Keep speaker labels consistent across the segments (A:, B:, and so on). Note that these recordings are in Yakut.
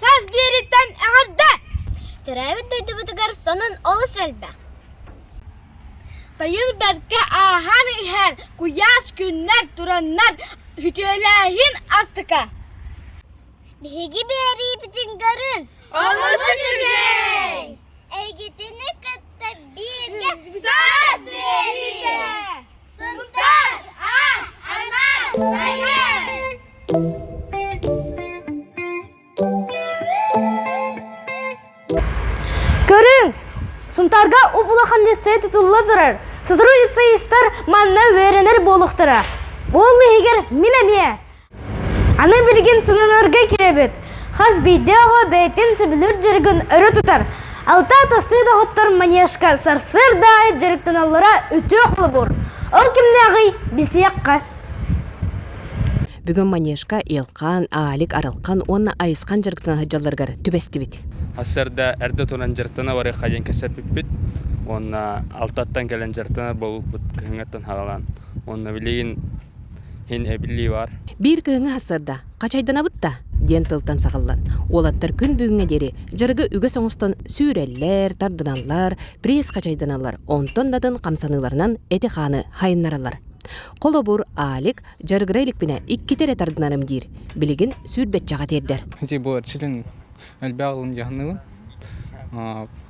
A: Саас биэриттэн эҕэрдэ! Төрөөбүт дойдубутугар сонун олус элбэх. Сайын бэркэ ааһан иһэр куйаас күннэр тураннар үтүөлээһин астыка. Биһиги биэриибитин көрүн! Олус үчүгэй! Эйгитини кытта бииргэ саас биэриигэ! Көрүҥ! Сунтарга улахан лицей тутулла турар. Сотрудница манна үөрэнэр буолуохтара. Ол иһигэр мин эмиэ Аны билигин сылыыларга кирэбит. Хас биирдии оҕо бэйэтин сөбүлүүр дьарыгын өрө тутар. Алта атастыы доҕоттор манежка сарсыарда аайы дьарыктаналлара үтүө холобур. Ол кимнээҕий билсиэххэ.
B: Бүгүн манежка Илхан, Аалик, Арылхан уонна Айысхан дьарыктана сылдьалларыгар түбэстибит. Сарсыарда эрдэ
C: туран дьарыктана барыахха диэн кэпсэппиппит. Уонна алтаттан кэлэн дьарыктана буолбут кыһыҥҥыттан хаалан. Уонна билигин Һин эбили бар. Биир кыһыҥҥы сарда
B: «Хачайданабыт да?» диэн тылтан саҕыллан, уолаттар күн бүгүҥҥэ диэри дьарыгы үгэс оҥостон сүүрэллэр, тардыналлар, пресс-хачайданаллар, онтон датын хамсаныыларынан эти-хааны хайыннараллар. Холобур, Алик дьарыгыра иликпинэ иккитэ эрэ тардынарым диир. Билигин сүүрбэччэҕэ тиэрдэр. Ити бу ситин
D: элбэх алын дьаһаныбын.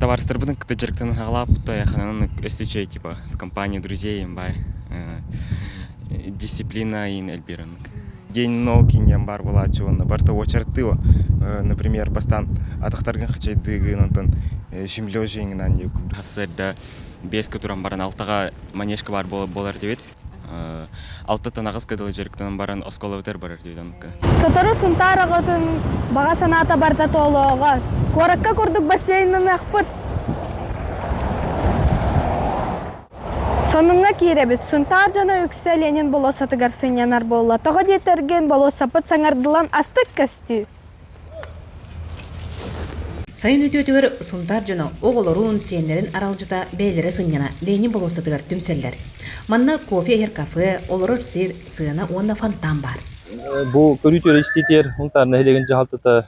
B: Табаарыстарбытын
E: кытта дьарыктанан аҕалаабыт айаханан өссө чэй типа в компании друзей бай дисциплина ин эльбиранг день ног иниан бар болааччы уонна барта уочартыо например бастан атахтаргын хачайдыгын онтон шимлёжиңынан юкуб хассырда беска туран баран алтага манежка бар болар дебит алтыттан аҕыс кыдылы дьарыктанан баран осколабытар барар диэн сотору сунтаар
F: аҕатын баҕа санаата барда тоолооҕо куоракка курдук бассейнын ахпыт сонуҥҥа киирэбит сунтаар дьоно үксэ ленин болуоссатыгар сынньанар буолла тоҕо диэтэргин болуоссапыт саҥардылан астык көстүү
B: Сайын үтүөтүгэр Сунтаар дьоно оҕолорун, сиэннэрин аралдьыта бэйэлэрэ сынньана Ленин болуоссатыгар түмсэллэр. Манна кофе иһэр кафе, олорор сир, сыана уонна фонтан баар. Бу көрүүтүгэр
G: истиитигэр Сунтаар нэһилиэгин дьаһалтата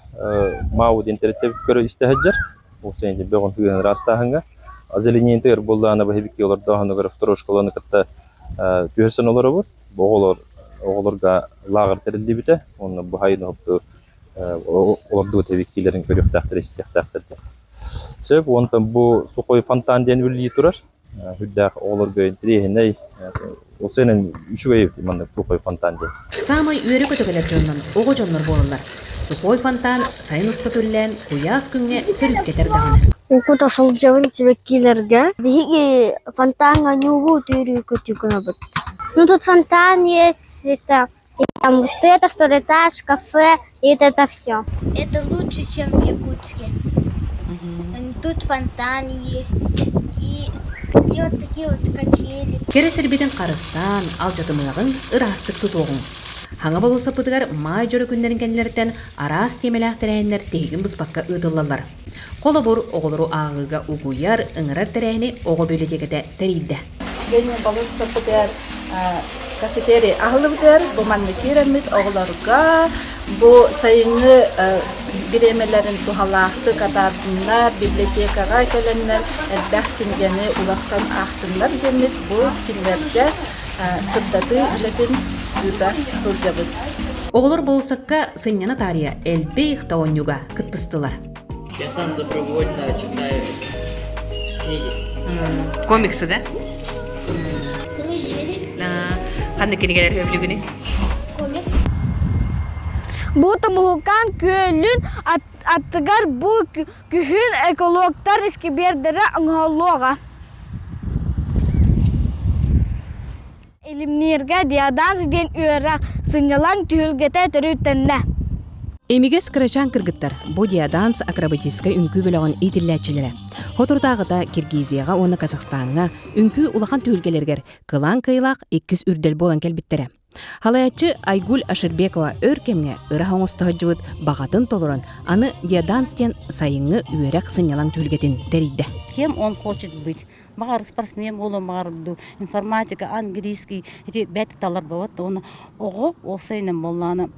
G: Мау диэн тэрилтэбит көрө истэ сылдьар. Ол сиэн бөҕүн сыһыан ыраастааһыҥҥа. Озеленение буоллаана быһыбикки олордооһунугар второй школаны кытта түһэрсэн олоробут. Бу оҕолор оҕолорго лааҕыр тэриллибитэ уонна бу хайынаһыпту олордубут эбиттиилэрин көрүөхтээхтэр, истиэхтээхтэр диэн. Сөп уонтан бу Сухой фонтан диэн үлэлии турар. Үрдээх оҕолорго интэриэһинэй. Ол сeenен үчүгэй маннык Сухой фонтан диэн. Саамай үөрэ көтөҕүлэр
B: дьоннор оҕо дьоннор буолаллар. Сухой фонтан сайын устата үллээн куйаас күҥҥэ сөрүүккэтэр даҕаны. Угута сылдьабын
A: сибэккилэргэ. Биһиги фонтаҥҥа ньуугу түөрүү көтүү гынабыт. Ну тут фонтан есть, это, и там вот второй этаж, кафе, и вот это все. Это лучше, чем в Якутске. Мгм. Тут фонтан есть. И, и вот такие вот качели. Кэрэ сирбитин
B: харыстаан, алдьатымыаҕыҥ, ыраастык тутуоҕуҥ. Хаҥа болуоссаппытыгар маай дьоро күннэрин кэннилэриттэн араас тиэмэлээх тэрээһиннэр тиһигин быспакка ыытыллаллар. Холобур, оҕолору ааҕыыга угуйар, ыҥырар тэрээһини оҕо библиотеката тэрийдэ. Дэнэ балыс
F: саппытыгар кафетерий аһыллыбытыгар бу маннык киэриммит оҕолорго бу сайыҥҥы бириэмэлэрин туһалаахтык атаардыннар, библиотекаҕа кэлэннэр элбэх кинигэни уларсан аахтыннар диэммит бу кинилэргэ сырдатыы үлэтин ыыта сылдьабыт. Оҕолор
B: болсукка сынньана таарыйа элбэх тоонньуга кыттыстылар. Я сам
H: добровольно читаю книги.
B: Комиксы да? Ханна кинигэлэр өбүлүгүнү?
A: Бу тумуһуккан күөлүн аттыгар бу күһүн экологтар искибиэрдэрэ оҥоһуллуоҕа. Илимнииргэ диодаж диэн үөрэ сынньалаҥ түһүлгэтэ төрүттэннэ. Эмигэс
B: кырачаан кыргыттар бу диоданс акробатическай үҥкүү бөлөҕүн иитиллээччилэрэ. Соторутааҕыта Киргизияҕа уонна Казахстаҥҥа үҥкүү улахан түһүлгэлэригэр кылаан кыайыылаах иккис үрдэл буолан кэлбиттэрэ. Халайаччы Айгуль Ашырбекова өр кэмҥэ ыраах оҥосто сылдьыбыт баҕатын толорон, аны диоданс диэн сайыҥҥы үөрэх сынньалаҥ түһүлгэтин тэрийдэ. Кем он хочет
I: быть, Баҕар спортсмен буолуом, баҕар дуу, информатика, английский эти бэрт таларбабыт уонна оҕо уопсайынан буоллаҕына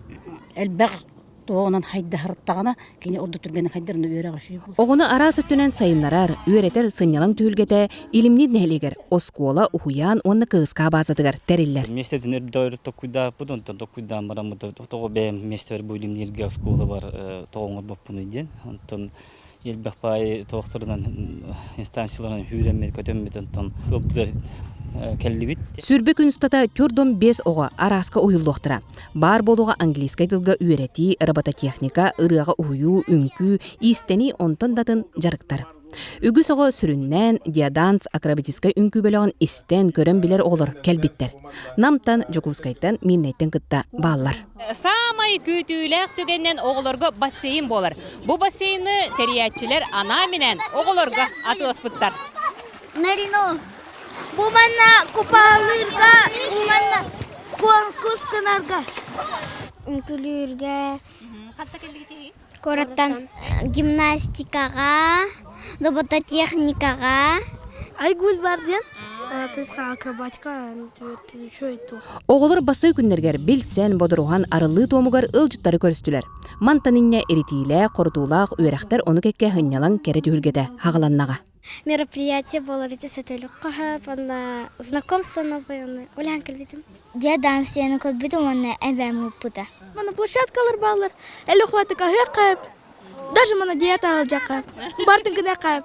I: элбэх туоҕунан хайдаһартаҕына кини ордук түргэнник хайдарына үөрэҕэ үчүгэй буолар. Оҕону араас өттүнэн
B: сайыннарар, үөрэтэр сынньалаҥ түһүлгэтэ Илимниир нэһилиэгэр оскуола, уһуйаан уонна кыыска баазатыгар тэриллэр. Месте дэнэр дойду
J: токкуйдааппыт, онтон токкуйдаан бараммыт тоҕо бэйэм миэстэбэр бу Илимнииргэ оскуола бар тоҕо оҥорбоппунуй диэн. Онтон элбэх баайы туохтарынан инстанцияларынан үүрэммит көтөммүт онтон ылбыттар кэллибит сүрбэ күн
B: устата төрт уон бес оҕо арааска уйуллуохтара баар буолуоҕа английскай тылга үөрэтии робототехника ырыаҕа уһуйуу үҥкүү иистэнии онтон датын дьарыктар үгүс оҕо сүрүннээн диаданс акробатическай үҥкүү бөлөҕүн истэн көрөн билэр оҕолор кэлбиттэр намтан дьокуускайтан миирнэйтэн кытта бааллар Саамай
K: күүтүүлээх түгэнинэн оҕолорго бассейн буолар. Бу бассейны тэрийээччилэр анаа минээн оҕолорго атыыласпыттар. Марино,
L: бу манна купаалыырга уонна конкурс гынарга. Үҥкүлүүргэ. Хантан кэллигит Куораттан гимнастикаҕа, робототехникаҕа. Айгуль бар
A: диэн тыска акробатика Оҕолор басыы
B: күннэригэр билсэн, бодоруһан арыллыы туомугар ыалдьыттары көрүстүлэр. Мантан инньэ иритиилээх, хорутуулаах үөрэхтэр ону кэккэ һынньалаҥ кэрэ түһүлгэтэ хаҕыланнаҕа. мероприятие
L: было эти сөтөлүк қахып онна знакомство новое оны улахан көрбүтүм дьэ даансыйаны көрбүтүм уонна эбэм ыыппыта мана площадкалар
A: баалар эле хваты каһыак каап даже мана диета алжа каап бартын гына каап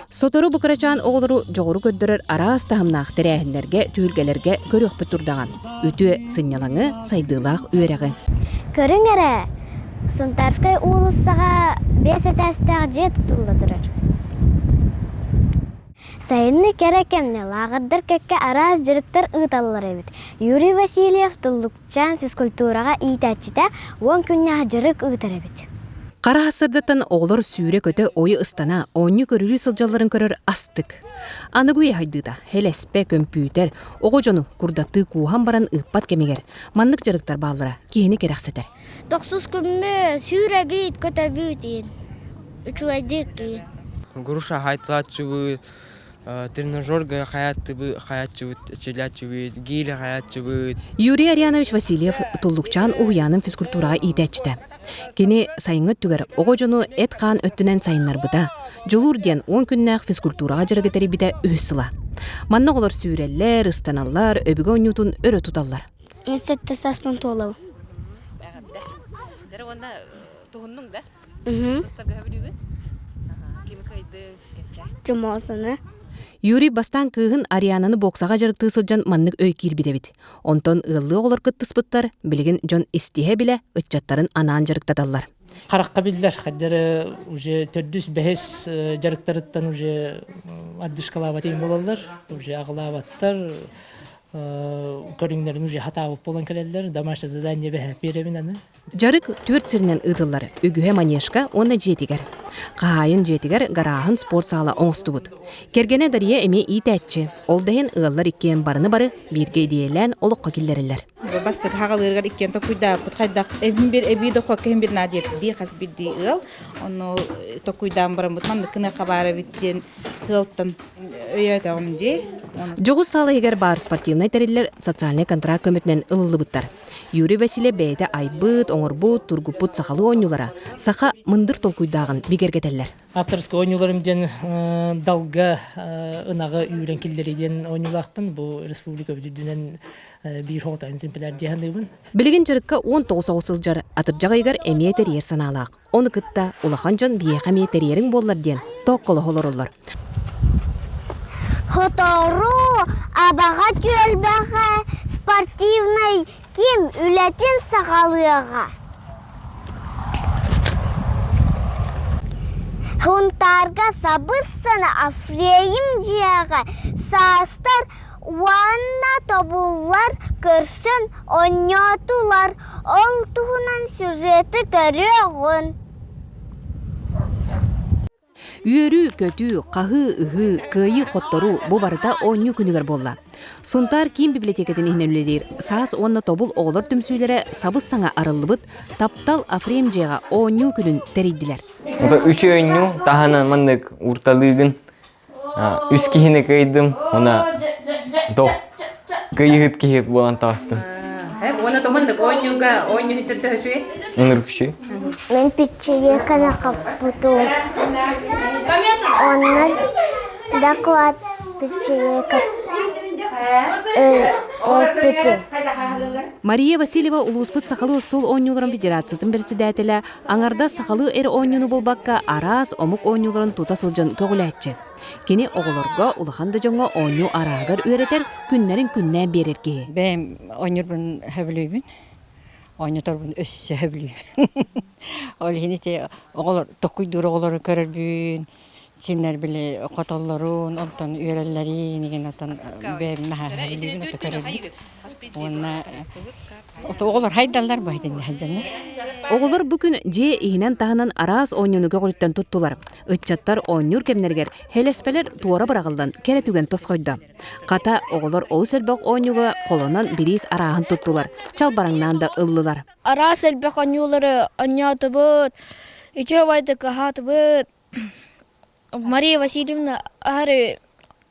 A: сотору бу
B: кырачаан оҕолору дьоҕуру көрдөрөр араас таһымнаах тэрээһиннэргэ түһүлгэлэргэ көрүөхпүт турдаҕан үтүө сынньалаҥы, сайдыылаах үөрэҕи. Көрүҥ эрэ,
L: Сунтаарскай уулуссаҕа биэс этээстээх дьиэ тутулла турар. Сайынны кэрэ кэмнэ лааҕырдар кэккэ араас дьарыктар ыыталлар эбит. Юрий Васильев Туллукчаан физкультураҕа иитээччитэ уон күннээх дьарык ыытар эбит. Хара сырдаттан
B: оҕолор сүүрэ-көтө ойу ыстана, оонньуу көрүлүү сылдьалларын көрөр астык. Аныгы үйэ хайдыыта, хелеспе, көмпүүтэр, Оҕо дьону курдаттыы кууһан баран ыыппат кэмигэр маннык дьарыктар бааллара киһини кэрэхсэтэр. Тохсус күммү
L: сүүрэбит көтөбүт ин. Учугайдык ин. Груша
M: хайтылаччыбы, тренажер гая хаятчыбы, хаятчыбы, челячыбы, гири хаятчыбы. Юрий Арианович
B: Васильев Туллукчаан уһуйаанын физкультураҕа иитээччитэ. Кини сайыҥҥы өттүгэр оҕо дьону эт-хаан өттүнэн сайыннарбыта, дьулуур диэн он күннээх физкультураҕа дьарыгы тэрийбитэ үһүс сыла. Манна оҕолор сүүрэллэр, ыстаналлар, өбүгэ оонньуутун өрө туталлар. Мен сетте саспын
L: туолабын. Эҕэрдэ.
K: Дэрэ уонна туһуннуҥ да? Тастаргаһа бүлүүгүт? Кими кыайдыҥ,
L: кэмсэ? Жумосаны. Юрий
B: бастаан кыыһын Ариананы боксаҕа дьарыктыы сылдьан маннык өй киирбит эбит. Онтон ыаллыы оҕолор кыттыспыттар билигин дьон истиһэ-билэ ыччаттарын анаан дьарыктаталлар. Харахха биллэр,
H: хаддары уже төрдүс бэһис дьарыктарыттан уже ардышкалаабат им болаллар, уже аглаабаттар көрүңнэрин уже хатаабыт болан кэлеллер, домашнее задание бэһэ перевин аны Дьарык түөрт
B: сиринэн ыытыллар үгүһэ манежка уонна дьиэтигэр. Хаһаайын дьиэтигэр гарааһын спорт саала оҥостубут. Кэргэнэ Дария эмиэ иитээччи, ол да иһин ыаллар иккиэн барыны-бары бииргэ идиэйэлээн олоххо киллэрэллэр. Бастакы аҕалыырыгар
N: иккиэн токуйдаабыппыт, хайдах эбин бир эбии дохуокка эһин бир на диэтирдии хас бирдии ыал. Ону токуйдаан бараммыт маннык кыныахха баар эбит диэн ыалтан өйөөтөҕүм дии. Дьоҕус саала
B: иһигэр баар спортивнай тэриллэр социальнай контракт көмөтүнэн ылыллыбыттар. Юрий Васильев бэйэтэ айбыт, оҥорбут, тургуппут сахалыы оонньуулара саха мындыр толкуйдааҕын бигэргэтэллэр. Авторскай оонньууларым
H: диэн далга ынаҕы үүрэн киллэрии диэн оонньуулаахпын. Бу республика үрдүнэн биир хоһотайын симпилэр диэханыыбын. Билигин дьарыкка
B: он тоҕус оҕо сылдьар, атырдьах ыйыгар эмиэ тэрийэр санаалаах. Ону кытта улахан дьон биһиэхэ эмиэ тэрийэриҥ буоллар диэн тоокколоһо олороллор.
L: Сотору Абаҕа түөлбэҕэ спортивнай ким үлэтин саҕалыаҕа. Хунтаарга сабыс-сана Афрейм дьиэҕэ саастар уонна тобуллар, көрсөн онньоотулар, ол туһунан сюжеты көрүөҕүҥ
B: Үөрүү-көтүү, хаһыы-ыһыы, кыайыы-хотторуу бу барыта оонньуу күнүгэр буолла. Сунтаар киин библиотекатын иһинэн үлэлиир саас уонна тобул оҕолор түмсүүлэрэ сабыс-саҥа арыллыбыт Таптал Афрем дьиэҕэ оонньуу күнүн тэрийдилэр. Үтүөннүү
O: таһынан маннык уурталыыгын үс киһини кыйдым уонна дох кыйыһыт киһи буолан таҕыстым уонна
K: туманнык оонньууга оонньууһүттэр төһө үчүгэй ынырык үчүгэй
O: мен
L: пиччийеканы хаппытым оннан доклад пиччийека эппитим
B: Мария Васильева улууспут сахалыы остуол оонньууларын федерациятын председателэ Аҥардас сахалыы эр оонньууну булбакка араас омук оонньууларын тута сылдьан көҕүлээччи. Кини оҕолорго, улахан да дьоҥҥо оонньуу арааһыгар үөрэтэр, күннэрин күннээн биэрэр киһи. Бэйэм оонньуурбун
I: сөбүлүүбүн. Оонньоторбун өссө сөбүлүүбүн. Ол иһин ити оҕолор, токуйдуур оҕолору көрөрбүн, кинилэр били хотоллорун онтон үөрэллэрии инигинатан бэйэбин хаһаһарбыыбын это көрөбүн уонна оҕолор хайдаллар бу этиннэ сылдьаннар оҕолор бу
B: күн дьиэ иһинэн таһынан араас оонньуунуга көҕүттэн туттулар ыччаттар оонньуур кэмнэригэр хелеспэлэр туора быраҕыллан кэрэ түгэн тосхойдо хата оҕолор олус элбэх оонньууга холонон бириис арааһын туттулар чалбараҥнаан да ыллылар араас элбэх
A: оонньуулары оонньоотубут, үчүгэйдик аһаатыбыт. Мария Васильевна аһары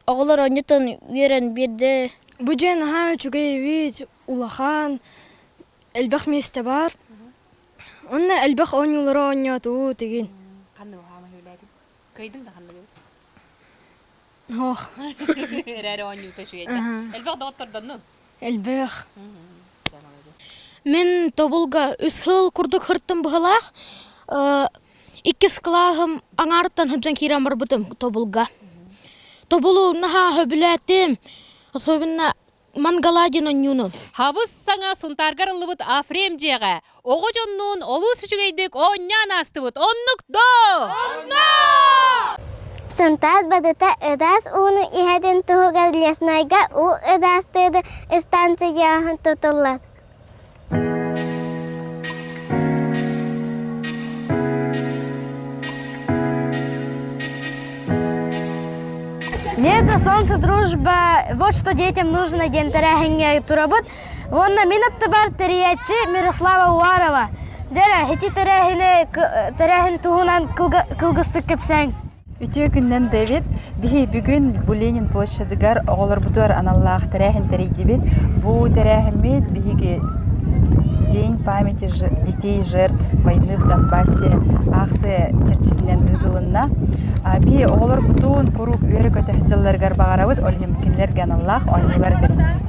A: оҕолор оонньуутун үөрэн биэрдэ. Бу дьиэ наһаа
F: үчүгэй эбит, улахан, элбэх миэстэ бар. Онно элбэх оонньуулары оонньоотубут игин. Ханна уһаама
K: хөвлээтин? Кыйдым да ханныгыбыт?
F: эрээри
K: оонньуута үчүгэйдэ элбэх доҕоттордоннуҥ элбэх
A: мен тобулга үс сыл курдук хырттым быһылаах иккис кылааһым аңаартан хыбжан киирэн барбытым тобулга тобулу наһаа сөбүлээтим особенно Мангаладин Онюнов. Хабыс саҥа
K: Сунтаарга арыллыбыт Афрем дьиэҕэ оҕо дьоннуун олус үчүгэйдик оонньоон аастыбыт. Оннук доо! Онно!
L: Сунтаар Бадыта Ыдаас ууну иһэтин туһугар леснайга уу ыдаастыыры ыстаансыйаһын тутуллар.
A: Лето, солнце, дружба, вот что детям нужно диэн тэрээһиҥҥэ турабыт. Уонна мин аттыбар тэрийээччи Мирослава Уарова. Дэрэ, ити тэрээһини, тэрээһин туһунан кылгыстык кэпсээн. Үтүө күнүнэн,
P: Дэвид. Биһиги бүгүн бу Ленин площадыгар оҕолорбутугар аналлаах тэрээһин тэрийдибит. Бу тэрээһиммит биһиги День памяти ж- детей жертв войны в Донбассе аахсыйа чэрчитинэн ыытылынна. А, Биһи оҕолорбутун куруук үөрэ көтөх дьылларыгар баҕарабыт, ол иһин кинилэргэ аналлаах оонньуулары тэрийдибит.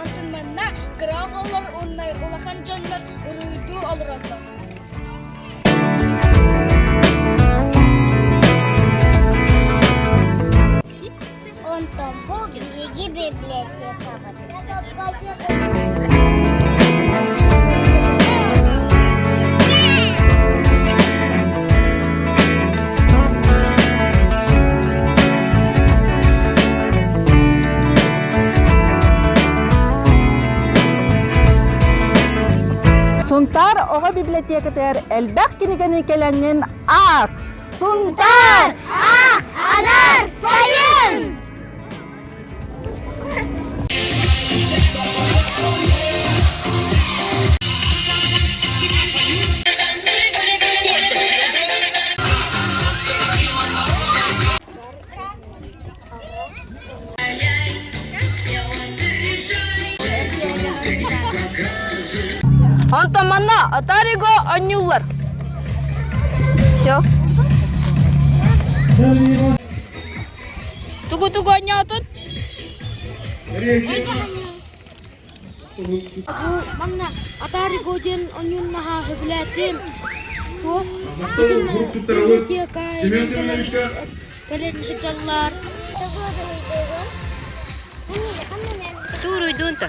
L: Онтон манна кыра оҕолор уонна улахан дьоннор уруйдуу олороллор. Онтон бу биһиги
Q: Сунтаар оҕо библиотекатыгар элбэх кинигэни кэлэҥҥин аах! Сунтаар!
L: Аах! Анаар! Сайын!
A: Онтон манна Атариго анньыллар. Все. Тугу-тугу анньаатын? Бу манна Атариго диэн оонньуунаһа сөбүлээтим. Туох итиннэ Индосия кэлэн кэлэн сылдьаллар.
K: Туруйдуун та.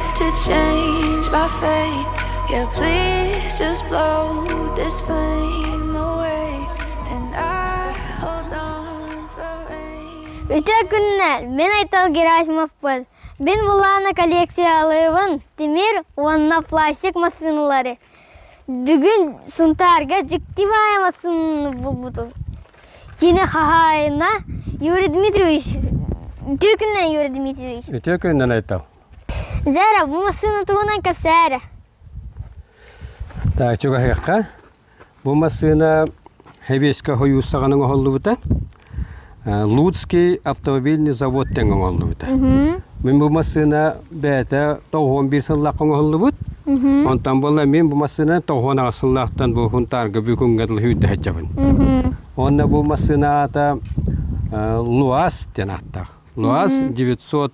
R: to change my fate. Yeah, please just blow this flame away, and I hold on for rain. Үтө күннэр,
L: мен Айтал Герасимовпун. Мен булаана коллекциялыбын Тимир уонна пластик массыыналары. Бүгүн Сунтаарга дьиктивая массыынаны булбутум. Кини хаһаайына Юрий Дмитриевич. Үтө күннэн Юрий Дмитриевич. Үтө күннэн Айтал.
S: Зера,
L: бу массыына туһунан кэпсээ эрэ.
S: Так, чугаһыахха. Бу массыына Хевеська хойууссаҕан оҥоһуллубута. Луцкий автомобильный завод тэҥ оҥоһуллубута. Мин бу массыына бэйэтэ тоҕуон биир сыллаах оҥоһуллубут. Онтон буолла мин бу массыынаны тоҕуон аҕыс сыллаахтан бу Хунтаарга Бүкүҥҥэ дылы үүрдэ сылдьабын. Уонна бу массыына аата Луас диэн ааттаах. Луас 900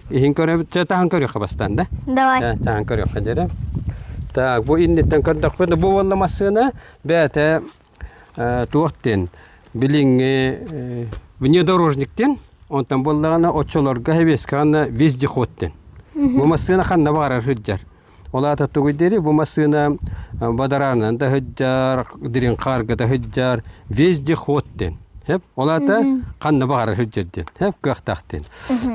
S: Иһин көрөбүт, таһан көрүөххэ бастаан да. Давай. Таһан көрүөххэ дээрэ. Так, бу инниттэн көрдөхпүт, бу буолла массыына бэйэтэ туох ден билиҥҥи внедорожниктен, онтон буоллаҕына оччолорго хэбиэскэҕэ вездеход ден. Бу массыына ханна баҕарар сылдьар. Ол аата тугуй диэри бу массыына бадараанынан да сылдьар, дириҥ хаарга да сылдьар, везде ход диэн. Хэп, ол аата ханна баҕарар сылдьар диэн. Хэп кыахтаах диэн.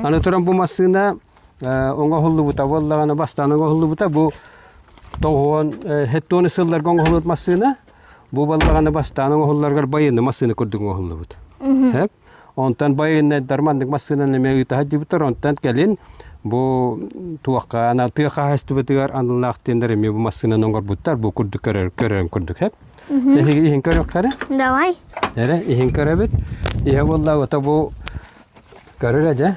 S: Аны туран бу массыына оҥоһуллубута буоллаҕына, бастаан оҥоһуллубута бу тоҕуон хеттоны сылларга оҥоһуллубут массыына. Бу буоллаҕына бастаан оҥоһулларыгар байыанны массыына курдук оҥоһуллубут. Хэп. Онтон байыаннайдар маннык массыынаны эмиэ ыытаһа дьибитэр, онтон кэлин бу туохха ана тыа хаһаайыстыбатыгар аналлаах диэндэр эмиэ бу массыынаны оҥорбуттар бу курдук көрөр көрөн курдук эп. Эһиги иһин көрөххөрө? Давай.
L: Эрэ иһин
S: көрөбүт. Иһэ буолла ото бу көрөрө дьэ.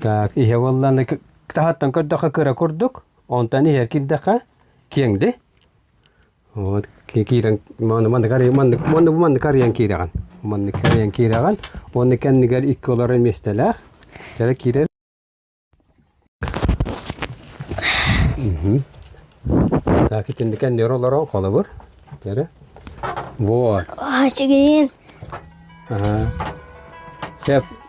S: Так иһэ буолланы таһаттан көрдөхө кыра курдук. Онтон иһэр кирдэхэ киэҥди. Вот киирэн маннык арыйан маннык маннык маннык арыйан киирэҕин маннык арыйан киирэҕин уонна кэннигэр икки олорор миэстэлээх кэлэ киирэр так итинник кэннигэр олорон холобур кэрэ вот аа чигиин
L: аа
S: сеп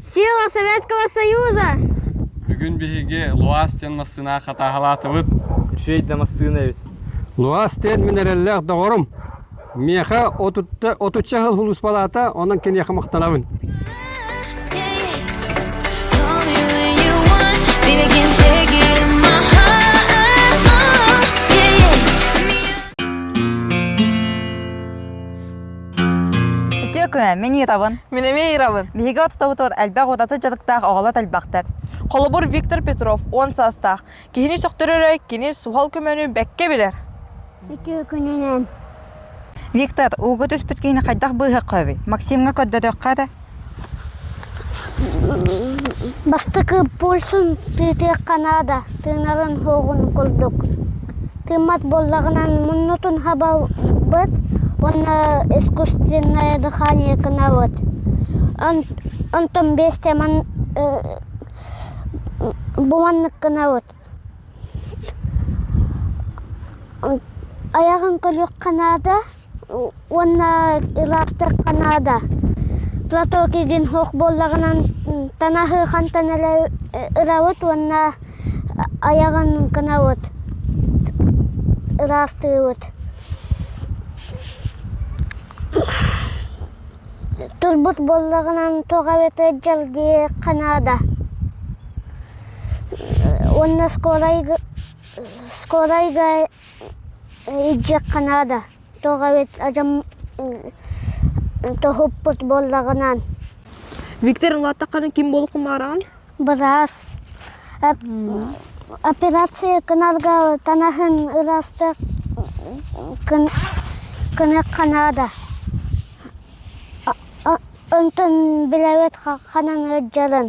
L: Сила Советского Союза! Бүгүн
D: биһиги Луас диэн массыынаҕа хатааһалаатыбыт. Үчүгэй да массыына эбит. Луас диэн мин
S: эрэллээх доҕорум. Миэхэ отучча сыл улууспалаата, онон киниэхэ махтанабын.
P: Үтүөкүмэ, мин Ирабын. Мин эмиэ Ирабын. Биһиги
T: ортотобутугар элбэх
P: удаты дьарыктаах оҕолор элбэхтэр. Холобур, Виктор
T: Петров уон саастаах. Киһини сөхтөрөрө кини суһал көмөнү бэккэ билэр. Үтүө
L: күнүнэн.
P: Виктор, ууга түспүт киһини хайдах быыһыахха эбий? Максимҥа көрдөтүөххэ этэ.
L: Бастакы пульсун тыытыахха наада, тыынарын-суоҕун курдук. Тыыммат буоллаҕынан муннутун хабабыт уонна искусственное дыхание гынабыт. Онтон биэстэ бу маннык гынабыт: Айаҕын көрүөххэ наада. уонна ылаахтыахха наада платок игин суох буоллаҕынан танаһы хантан элэ ылабыт уонна айаҕын гынабыт ыраастыыбыт турбут буоллаҕынан тоҕо эбэтэр дьалдьыйа иһиэххэ наада уонна оскуола оскуола Дьиэххэ наада тоҕо эбит адьам тоһуппут буоллаҕынан Виктор
T: ылааттаххына ким буолуох умаараҕын Былаас
L: операция кыналга танаһын ыластык кыныхха наада онтун билэбит ханан ыалдьарын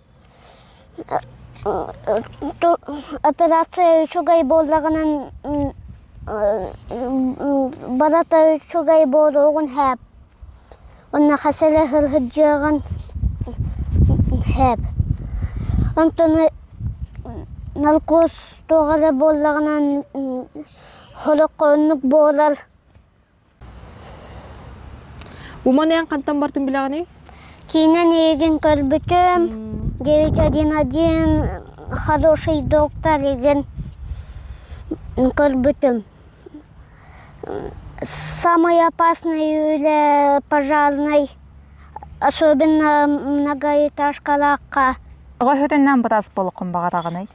L: Операция үчүгэй буоллаҕынан барыта үчүгэй буолуоҕун сөп. Уонна хасыла сылдьыаҕын сөп. Онтон наркоз туох эрэ буоллаҕынан олоххо оннук буолар.
T: Уман эн хантан бартын билэҕиний? Киинэн
L: игин көрбүтүм, девять один один хороший доктор игин көрбүтүм. Самый опасный үлэ, пожарный, особенно многоэтажкалаахха. Оҕо
P: өтөннән бытас болуққын бағарағынай?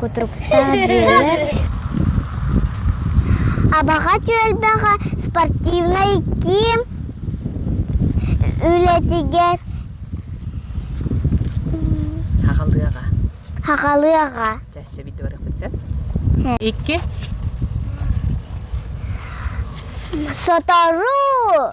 L: Кутуруктаах дьиэлэр Абаҕа түөлбэҕэ спортивнай киин үлэтигэр
B: Хахалыаҕа.
L: Хахалыаҕа.
B: Икки.
L: Сотору